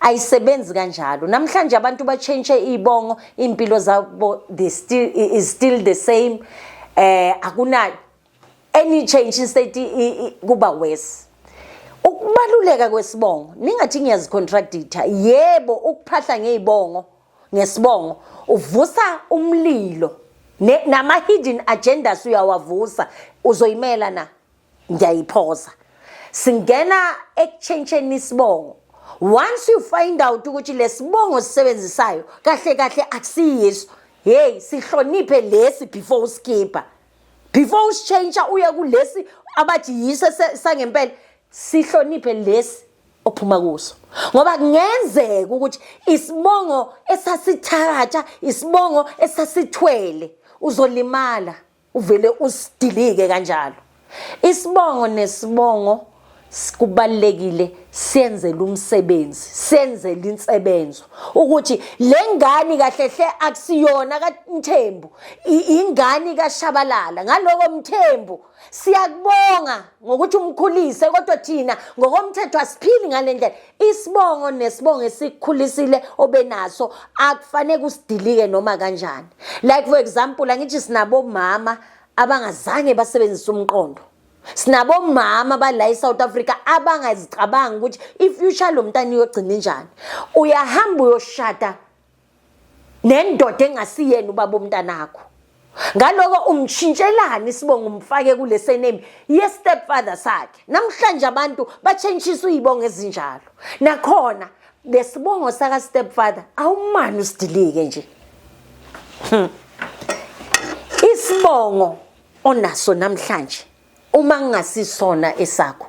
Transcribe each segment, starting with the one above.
ayisebenzi kanjalo namhlanje abantu batshentshe iy'bongo iy'mpilo zabo the still, is still the same eh akuna any change instead kuba worse ukubaluleka kwesibongo ningathi ngiyazicontractitha yebo ukuphahla ngey'bongo ngesibongo uvusa umlilo nama-hidden agendas uyawavusa uzoyimela na ngiyayiphosa singena ekutshentsheni isibongo once you find out ukuthi lesibongo sisebenzisayo kahle kahle akusiyiso hey sihloniphe lesi before uskipper before usitshentsha uye kulesi abathi yiso sangempela sihloniphe lesi ophuma kuso ngoba kungenzeka ukuthi isibongo esasithatha isibongo esasithwele uzolimala uvele usidilike kanjalo isibongo nesibongo kubalekile senzele umsebenzi senzele insebenzo ukuthi lengane kahle hle akusiyona kaMthembu ingane kaShabalala ngaloko Mthembu siyakubonga ngokuthi umkhulise kodwa thina ngokomthetho asiphili ngalendlela isibongo nesibongo esikukhulisile obenaso akufanele kusidilike noma kanjani like for example angithi sinabo mama abangazange basebenzise umqondo sinabo mama bala eSouth Africa abangazicabanga ukuthi ifuture lomntana iyogcina njani uyahamba uyoshada nendoda engasiyena ubaba omntanakho ngaloko umshintshelani isibongo umfake kule sename ye-stepfather sakhe namhlanje abantu batshentshiswa iy'bongo ezinjalo nakhona lesibongo saka-stepfather awumani usidilike nje hmm. isibongo onaso namhlanje uma kungasisona esakho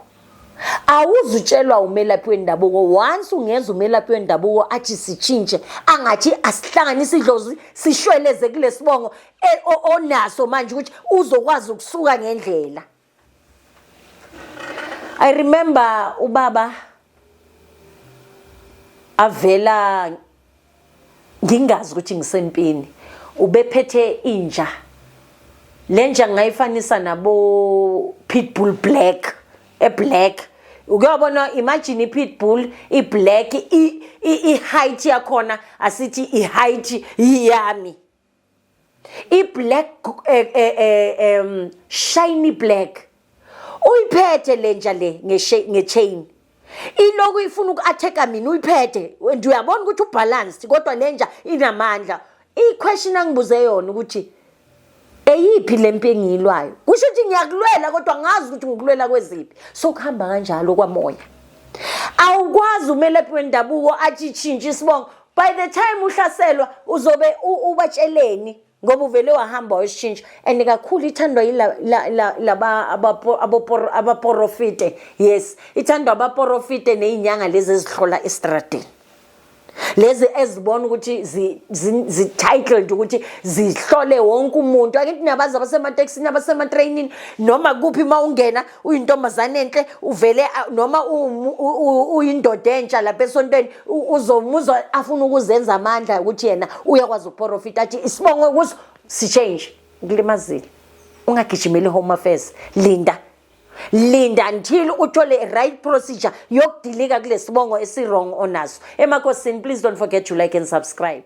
awuzutshelwa umelaphi wendabuko once ungeza umelaphi wendabuko athi sitshintshe angathi asihlanganise idlozi sishweleze kulesibongo e, onaso manje ukuthi uzokwazi ukusuka ngendlela i remember ubaba avela ngingazi ukuthi ngisempini ubephethe inja lenja ngayifanisa nabo pitbull black eblack ukuyobona imagine ipitbull iblack i-height yakhona asithi i-height yiyami iblack eh, eh, eh, um shiny black uyiphethe lenja le ngechain iloku ifuna uku-attack-a mina uyiphethe and uyabona ukuthi ubalanced kodwa lenja inamandla i-question angibuze yona ukuthi eyiphi le mpi engiyilwayo kusho ukuthi ngiyakulwela kodwa ngazi ukuthi ngikulwela kweziphi so kuhamba kanjalo kwamoya awukwazi umelaphi wendabuko athi tshintshe isibongo by the time uhlaselwa uzobe ubatsheleni ngoba uvele wahamba wayoshintsha and kakhulu ithandwa yilaba abaporofite yes ithandwa abaporofite neyinyanga lezi ezihlola estradini lezi ezibona ukuthi zi-titled ukuthi zihlole wonke umuntu angithi nabazi abasematekisini abasematreyinini noma kuphi uma ungena uyintombazane enhle uvele noma uyindoda entsha lapha esontweni uzomuzwa afuna ukuzenza amandla ukuthi yena uyakwazi ukuporofita athi isibongo kuso sichange kulimazile ungagijimeli home affairs linda linda until uthole i-right procedure yokudilika kulesibongo esirong onaso emakosini please don't forget to like and subscribe